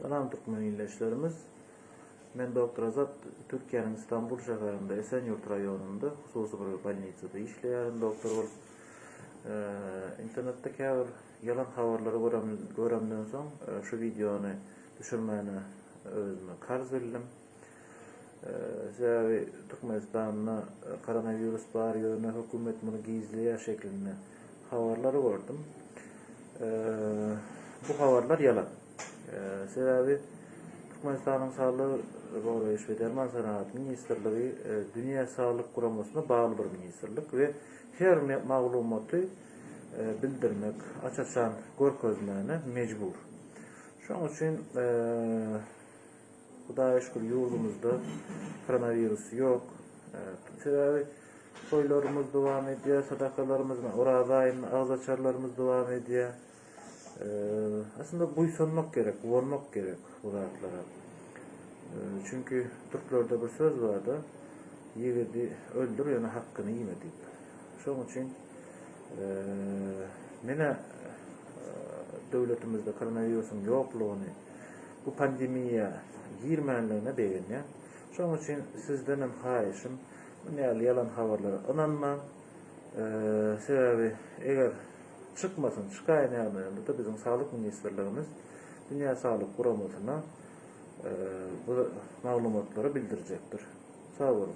Salam türkmen ildeşlerimiz. Men doktor Azat, Türkiýäniň Istanbul şäherinde, Esenýurt raýonynda, hususy bir bolnisada işleýärin doktor bolup. Internetde käbir ýalan habarlary göremden soň, şu wideony düşürmäni özüme karz bildim. Sebäbi Türkmenistanda koronawirus bar ýöne hökümet muny gizleýär şeklinde habarlary gördüm. Bu habarlar ýalan. Sebäbi Türkmenistanyň Saglygy goraýyş we derman senagaty ministrligi Dünýä Saglyk Guramasyna bagly bir ministrlik we her maglumaty bildirmek, aç-açan görkezmäne mejbur. Şonuň üçin Hudaýa şükür ýurdumyzda koronawirus ýok. Sebäbi toýlarymyz dowam edýär, sadakalarymyz, Oraza aýynda agzaçarlarymyz dowam edýär. Aslynda buýsanmak gerek, guwanmak gerek bu zatlara. Çünki türklerde bir söz bar-da, ýigidi öldür, ýöne hakkyny iýme diýip. Şonuň üçin menä döwletimizde koronawirusyň ýoklugyny, Bu pandemiýa girmänligine begenýän. Şonuň üçin sizdenem haýyşym, muny ýaly ýalan habarlara ynanmaň. Sebäbi eger çykmasyn, çykaýyn ýagdaýynda-da biziň Saglyk ministrligimiz Dünýä Saglyk Guramasyna bu maglumatlary bildirjekdir. Sag boluň.